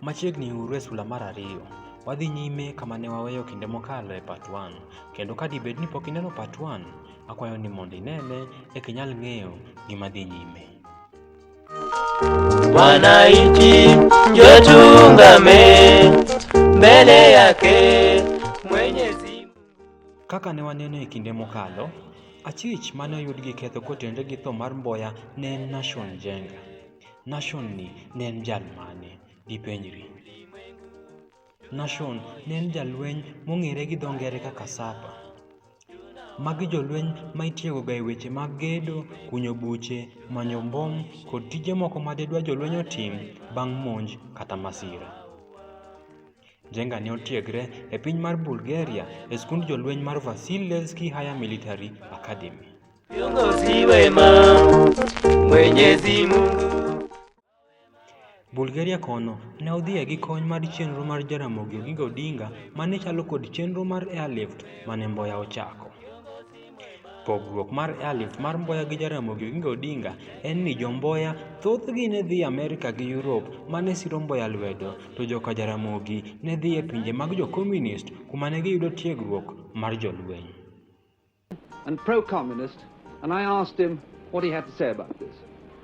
Machiegni uru e sula mar ariyo. Wadhi nyime kama ne waweyo kinde mokalo e part 1, kendo ka dibed ni pok ineno part 1, akwayo ni mondo inene eka inyal ng'eyo gima dhi nyime. Wananchi njo tungame mbele yake Kaka ne waneno e kinde mokalo, achich ma ne oyud gi ketho kotenore gi tho mar Mboya ne en Nashon Njenga. Nashon ni ne en jal mane? Dipenjri. Nashon ne en jalweny mong'ere gi dho ngere kaka Sapa. Magi jolweny ma itiegoga e weche mag gedo, kunyo buche, manyo mbom kod tije moko ma didwa jolweny otim bang' monj kata masira. Jenga ne otiegre e piny mar Bulgaria e skund jolweny mar Vasilevsky Higher Military Academy. Kiongozi wema Mwenyezi Mungu Bulgaria kono ne odhiye gi kony mar chenro mar Jaramogi Oginga Odinga mane chalo kod chenro mar airlift mane Mboya ochako. Pogruok mar Alif mar Mboya gi Jaramogi Oginga Odinga en ni jo Mboya thothgi ne dhi Amerika gi Europe ma ne siro Mboya lwedo, to joka Jaramogi ne dhi e pinje mag jo Komunist kuma ne giyudo tiegruok mar jolweny. and pro-communist, and I asked him what he had to say about this.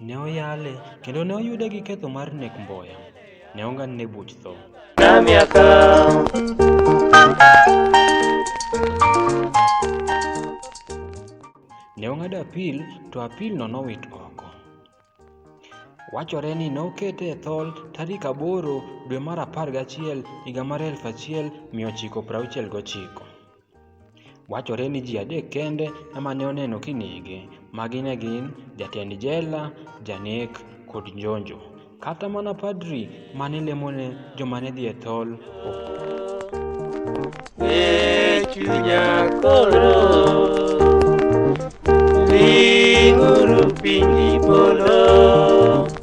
Ne oyale kendo ne oyude gi ketho mar nek mboya. Ne ong'adne buch tho. Ne ong'ado apil to apilno nowit oko. Wachore ni ne okete e thol tarik aboro dwe mar apar gachiel higa mar 1969. Wachore ni ji adek kende ema ne oneno kinege, magi ne gin jatend jela, janek kod njonjo. Kata mana padri mane lemone joma ne dhi e thol e chunya koro linguru piny polo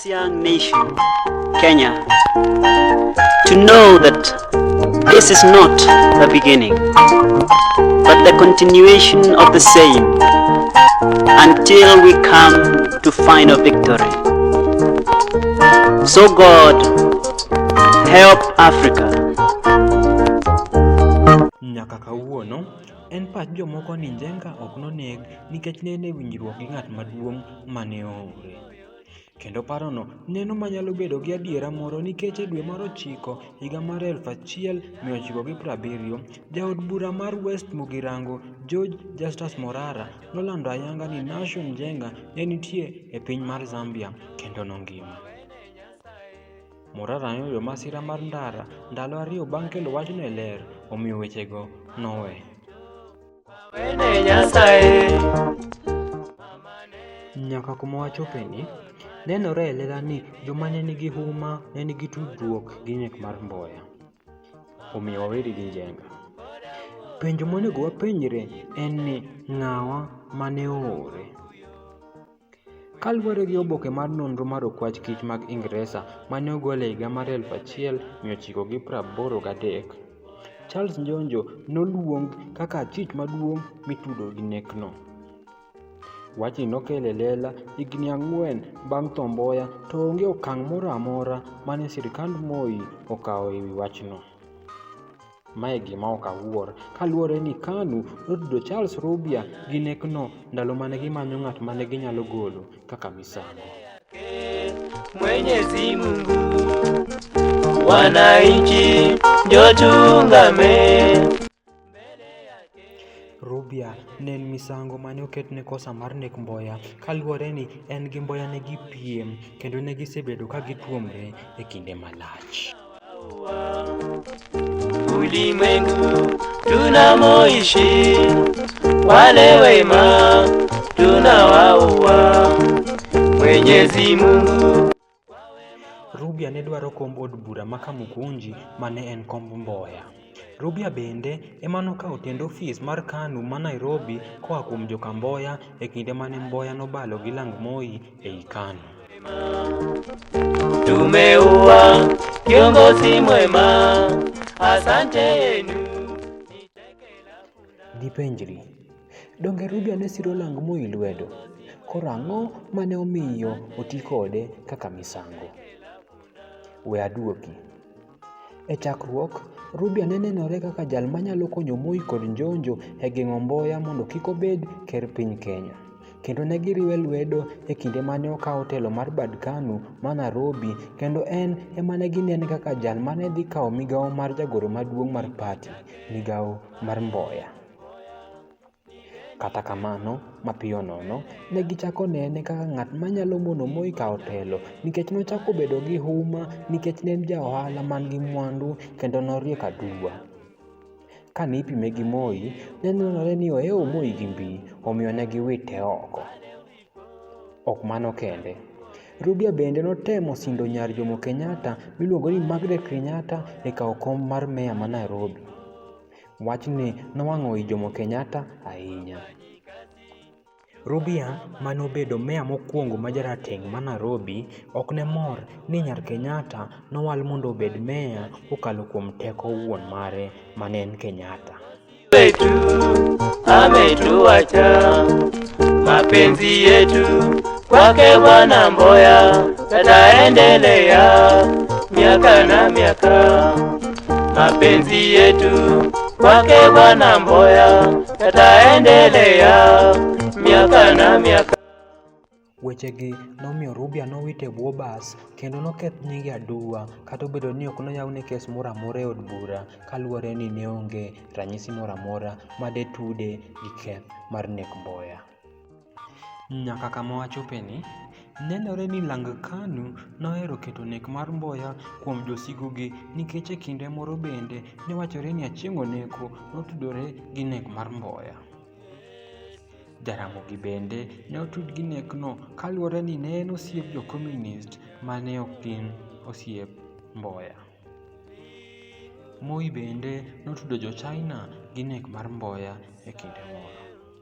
young nation, Kenya, to know that this is not the beginning, but the continuation of the same until we come to final victory. So God, help Africa. Nyaka kawuono en pach jomoko ni Njenga ok noneg nikech ne en e winjruok gi ng'at maduong' mane oore. Kendo parono neno ma nyalo bedo gi adiera moro nikech e dwe mar ochiko higa mar 1970, jaod bura mar West Mugirango, George Justus Morara, nolando ayanga ni Nashon Njenga ne nitie e piny mar Zambia kendo nongima. Morara noyudo masira mar ndara ndalo ariyo bang' kelo wachno e Ler, omiyo wechego nowe. Nyaka kuma wachopeni, nenore e lela ni joma ne nigi huma ne nigi tudruok gi nek mar Mboya. Omiyo waweri gi Njenga. Penjo monego wapenjre en ni ng'awa mane oore? Kaluwore gi oboke mar nonro mar okwach kich mag Ingresa ma ne ogol e higa mar 1983, Charles Njonjo noluong kaka achich maduong' mitudo gi nekno. Wachni nokelo e lela higini ang'wen bang' tho Mboya to onge okang' moro amora ma ne sirkand Moi okawo e wi wachno. Mae gima ok awuor kaluwore ni KANU notudo Charles Rubia gi nekno ndalo mane gimanyo ng'at mane ginyalo golo kaka misango. Mwenyezi Mungu, wananchi ndio tuungame. Rubia ne en misango mane oketne kosa mar nek Mboya kaluwore ni en gi Mboya ne gipiem kendo ne gisebedo ka gituomre e kinde malach. Ulimwengu tunamoishi wale wema tunawaua. Mwenyezi Mungu Rubia ne dwaro komb od bura ma Kamukunji ma ne en komb Mboya. Rubia bende ema nokawo tend ofis mar KANU ma Nairobi koa kuom joka Mboya e kinde mane Mboya nobalo gi lang Moi ei KANU. Tumeua kiongozi mwema, asante yenu. Dipenjri, donge Rubia ne siro lang Moi lwedo? Koro ang'o mane omiyo oti kode kaka misango? We aduoki. E chakruok, Rubia ne nenore kaka jal manyalo konyo Moi kod Njonjo e geng'o Mboya mondo kik obed ker piny Kenya. Kendo ne giriwe lwedo e kinde mane okawo telo mar bad Kanu ma Narobi kendo en ema ne ginene kaka jal mane dhi kawo migawo mar jagoro maduong' mar party, migawo mar Mboya. Kata kamano, mapiyo nono, ne gichako nene kaka ng'at ma nyalo mono Moi kawo telo, nikech nochako bedo gi huma nikech ne en ja ohala man gi mwandu kendo noriek aduwa. Ka ne ipime gi Moi, ne nenore ni ohewo Moi gi mbi, omiyo ne giwite oko. Ok mano kende, Rudia bende notemo sindo nyar Jomo Kenyatta miluongo ni Margaret Kenyatta e kawo kom mar meya ma Nairobi. Wachni nowang'o i Jomo Kenyatta ahinya. Rubia ma nobedo meya mokwongo ma jarateng' ma Nairobi ok ne mor ni nyar Kenyatta nowal mondo obed meya kokalo kuom teko wuon mare ma ne en Kenyatta. wetu ametuacha, mapenzi yetu kwake Bwana Mboya yataendelea miaka na miaka. Mapenzi yetu kwake Bwana Mboya yataendelea miaka na miaka. Wechegi nomiyo Rubia nowit e bwo bas kendo noketh nyinge aduwa kata obedo ni ok noyawne kes moro amora e od bura kaluwore ni ne onge ranyisi moro amora ma de tude gi keth mar nek Mboya. Nyaka kama wachopeni, nenore ni Lang Kanu nohero keto nek mar Mboya kuom josigogi nikech e kinde moro bende ne wachore ni Achieng' Oneko notudore gi nek mar Mboya. Jaramogi bende ne otud gi nekno kaluwore ni ne en osiep jo Komunist ma ne ok gin osiep Mboya. Moi bende notudo jo China gi nek mar Mboya e kinde moro.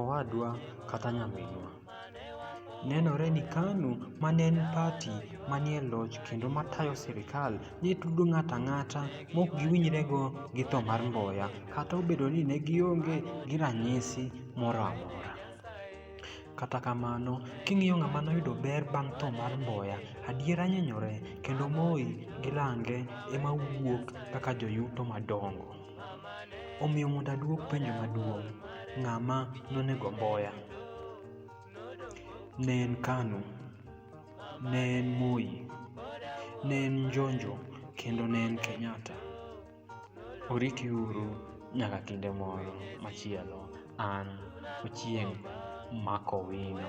Owadwa kata nyaminwa. Nenore ni KANU ma ne en pati manie loch kendo matayo sirikal ne tudo ng'ato ang'ata mok giwinjrego gi tho mar Mboya kata obedo ni ne gionge gi ranyisi moro amora. Kata kamano, king'iyo ng'ama noyudo ber bang' tho mar Mboya, adiera nyenyore kendo Moi gi Lange ema wuok kaka joyuto madongo. Omiyo mondo aduok penjo maduong', ng'a ma nonego Mboya? Ne en Kanu, ne en Moi, ne en Njonjo kendo ne en Kenyatta. Oriti uru nyaka kinde moro machielo an Ochieng' Makowino.